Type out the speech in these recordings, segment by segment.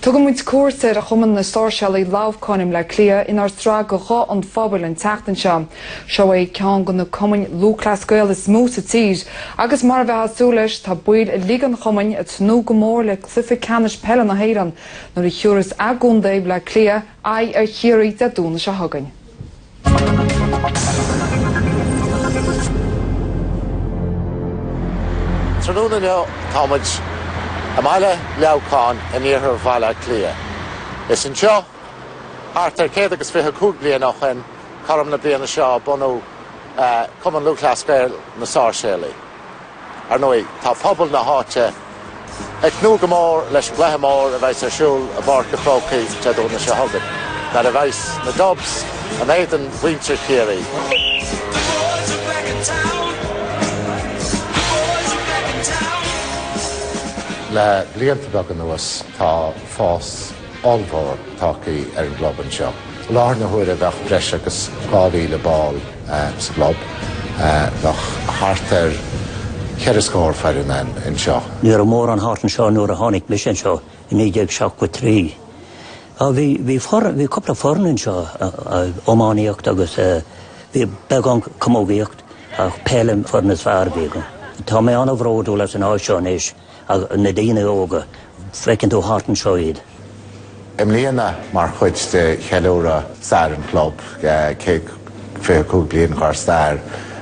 Tugann muid cuairt ar Chumann na Sáirséalaigh Leamhcáin i mBleá Cliath inár sraith Guth an Phobail an tseachtain seo. Seo é ceann de na Cumainn Lúthchleas Gael is mó sa tír agus mar a bheadh súil leis tá baill uilig an Chumainn ag tnúth go mór le Cluiche Ceannais Peile na hÉireann nuair a thiúras Contae Bhleá Cliath aghaidh ar Chiarraí Dé Domhnaigh seo chugainn. Tráthnóna inniu tá muid i mbaile Leamhcáin in iarthar Bhaile Átha Cliath. Is anseo, thart ar chéad agus fiche cúig bliain ó shoin, cothrom na bliana seo, a bunaíodh Cumann Lúthchleas Gael, Na Sáirséalaigh. Ar ndóigh, tá pobal na háite ag tnúth go mór leis an gcluiche mór a bheas ar siúl i bPáirc a' Chrócaigh Dé Domhnaigh seo chugainn, nuair a bheas na Dubs in éadan mhuintir Chiarraí. Le blianta beaga anuas, tá fás ollmhór tagthaí ar an gclub anseo. I láthair na huaire bheadh breis agus 2,000 ball sa gclub. Bheadh thart ar cheithre scór foireann ann anseo. Ní raibh mórán thart anseo nuair a tháinig mise anseo i 1973. Bhí foireann, bhí cúpla foireann anseo, iománaíocht agus bhí beagán camógaíocht ach peil an foireann is fearr a bhí againn. Tá mé an-bhródúil as an áit seo anois. Na daoine óga, feiceann tú thart anseo iad. I mbliana, mar chuid de cheiliúradh stair an chlub, céad fiche cúig bliain dhár stair,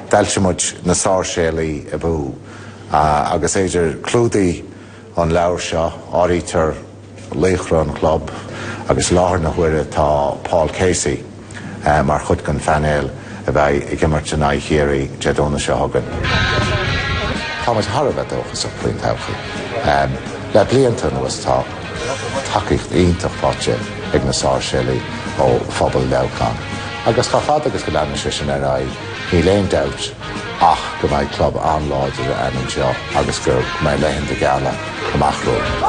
d'fhoilsigh muid Na Sáirséalaigh Abú agus Ed,. clúdaíonn an leabhar seo, áirítear laochra an chlub agus i láthair na huaire tá Paul Casey mar chuid den phainéal a bheidh ag imirt in aghaidh Chiarraí Dé Domhnaigh seo chugainn. Tá muid thar a bheith dóchasach faoin todhchaí. Le blianta anuas tá tacaíocht iontach faighte ag na Sáirséalaigh ó phobal Leamhcáin agus chomh fada agus go leanfaidh sé sin ar aghaidh níl aon dabht ach go mbeidh club an-láidir againn anseo agus go mbeidh laethanta geala amach romhainn.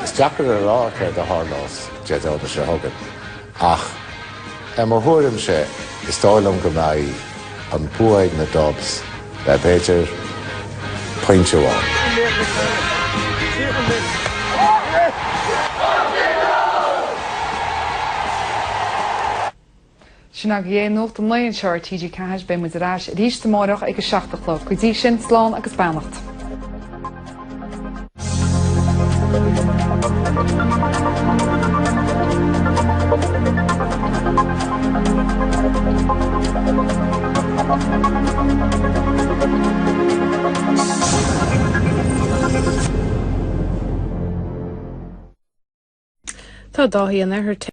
Is deacair a rá céard a tharlós Dé Domhnaigh seo chugainn ach i mo thuairimse is dóigh liom go mbeidh an bua ag na Dubs le b'fhéidir pointe amháin. Sin agaibh é, nuacht an lae anseo ar TG4. Beidh muid ar ais arís amárach ag a seacht a chlog. Go dtí sin, slán agus beannacht. Tá Dáithí an Oirthir.